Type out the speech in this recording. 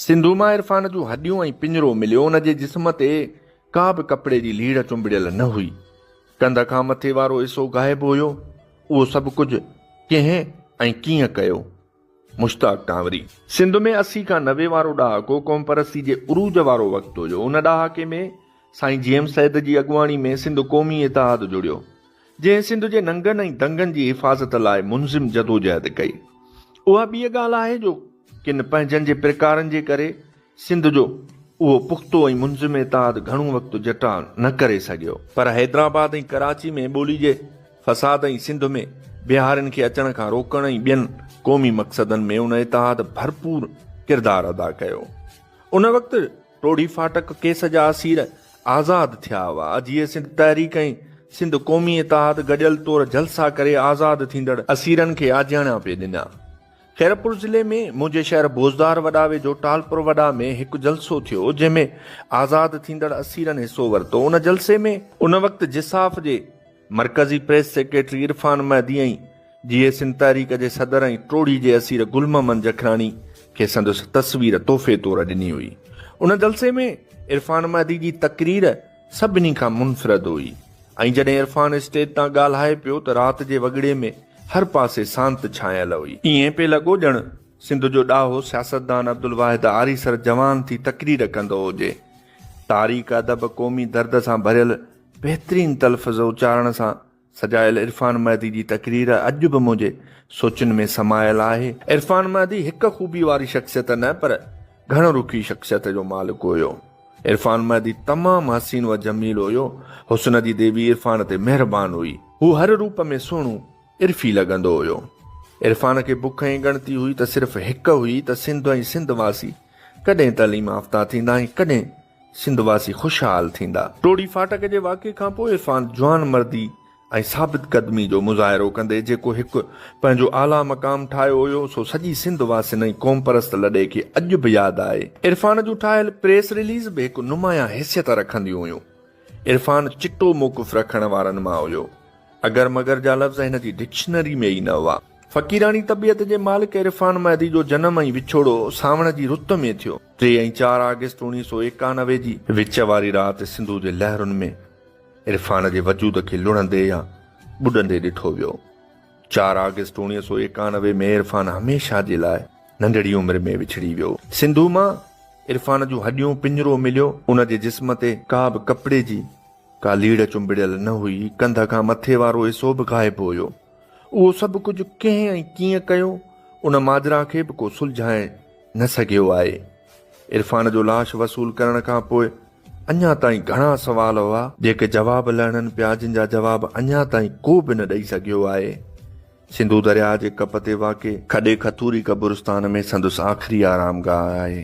سنڌو مان عرفان جون هڏيون ۽ پڃرو مليو، ان جي جسم تي ڪا به ڪپڙي جي ليڙهه چنبڙيل نه هئي، ڪنڌ کان مٿي وارو حصو غائب هيو، اهو سڀ ڪجهه ڪنهن ۽ ڪيئن ڪيو؟ مشتاق ڪانوري. سنڌ ۾ اسي کان نوي وارو ڏهاڪو قوم پرستي جي عروج وارو وقت هيو، ان ڏهاڪي ۾ سائين جي ايم سيد جي اڳواڻي ۾ سنڌ قومي اتحاد جڙيو، جنهن سنڌ جي ننگن ۽ دنگن جي حفاظت لاء منظم جدوجهد ڪئي، اها ٻيء ڳالهه آهي جو ڪن پنهنجن جي پرڪارن جي ڪري سنڌ جو اهو پختو ۽ منظم اتحاد گهڻو وقت جٽاء نه ڪري سگهيو. پر حيدرآباد ۽ ڪراچي ۾ ٻولي جي فساد ۽ سنڌ ۾ بهارين کي اچڻ کان روڪڻ ۽ ٻين قومي مقصدن ۾ ان اتحاد ڀرپور ڪردار ادا ڪيو. ان وقت ٽوڙي ڦاٽڪ ڪيس جا اسير آزاد ٿيا هئا. اجهي سنڌ تحريڪ ۽ سنڌ قومي اتحاد گڏيل طور جلسا ڪري آزاد ٿيندڙ اسيرن کي آجياڻيا پئي ڏنا. خيرپور ضلعي ۾ منهنجي شهر بوزدار وڏا ويجهو ٽالپر وڏا ۾ هڪ جلسو ٿيو جنهن ۾ آزاد ٿيندڙ اسيرن حصو ورتو ان جلسي ۾ ان وقت جساف جي مرڪزي پريس سيڪريٽري عرفان مهدي ۽ جي اي سنڌ تحريڪ جي صدر ۽ ٽوڙي جي اسير گل محمد جکراڻي کي سندس تصوير تحفي طور ڏني هئي ان جلسي ۾ عرفان مهدي جي تقرير سڀني کان منفرد هئي ۽ جڏهن عرفان اسٽيج تان ڳالهائي پيو ته رات جي وڳڙي ۾ هر پاسي سانت ڇانيل هئي. ائين پئي لڳو ڄڻ سنڌ جو ڏاهو سياستدان عبدالواحد آريسر جوان ٿي تقرير ڪندو هجي. تاريخ، ادب، قومي درد سان ڀريل بهترين تلفظ اچارڻ سان سجايل عرفان مهدي جي تقرير اڄ به منهنجي سوچن ۾ سمايل آهي. عرفان مهدي هڪ خوبي واري شخصيت نه پر گهڻ رخي شخصيت جو مالڪ هيو. عرفان مهدي تمام حسين و جميل هيو. حسن جي ديوي عرفان تي مهربان هئي. هو هر روپ ۾ سهڻو عرفي لڳندو هيو. عرفان کي بک ۽ ڳڻتي هئي ته صرف هڪ هئي ته سنڌ ۽ سنڌ واسي ڪڏهن تعليم آفتا ٿيندا ۽ ڪڏهن سنڌ واسي خوشحال ٿيندا. ٽوڙي ڦاٽڪ جي واقعي کان پوء عرفان جوانمردي ۽ ثابت قدمي جو مظاهرو ڪندي جيڪو هڪ پنهنجو اعليٰ مقام ٺاهيو هيو سو سڄي سنڌ واسين ۽ قومپرست لڏي کي اڄ به ياد آهي. عرفان جون ٺاهيل پريس رليز به هڪ نمايان حيثيت رکنديون هيون. عرفان چٽو موقف رکڻ وارن مان هيو. اگر مگر جا لفظ هن جي ڊڪشنري ۾ ئي نه هئا. فقيراڻي طبيعت جي مالڪ عرفان مهدي جو جنم ۽ وڇوڙو سانوڻ جي رت ۾ ٿيو. ٽي ۽ چار آگسٽ اوڻيهه سؤ ايڪانوي جي وچ واري رات سنڌو جي لهرن ۾ عرفان جي وجود کي لڙهندي يا ٻڏندي ڏٺو ويو. چار آگسٽ اوڻيهه سؤ ايڪانوي ۾ عرفان هميشه جي لاء ننڍڙي عمر ۾ وڇڙي ويو. سنڌو مان عرفان جون هڏيون پڃرو مليو. ان جي جسم تي ڪا به ڪپڙي جي ڪا ليڙ چنبڙيل نه هئي. ڪنڌ کان مٿي وارو حصو به غائب هيو. اهو سڀ ڪجهه ڪنهن ۽ ڪيئن ڪيو، ان ماجرا کي به ڪو سلجهائي نه سگهيو آهي. عرفان جو لاش وصول ڪرڻ کان پوء اڃا تائين گهڻا سوال هئا، جيڪي جواب لهڻن پيا جن جا جواب اڃا تائين ڪو به نه ڏئي سگهيو آهي. سنڌو درياهه جي ڪپ تي واقع کڏي کٿوري قبرستان ۾ سندس آخري آرام گاهه آهي.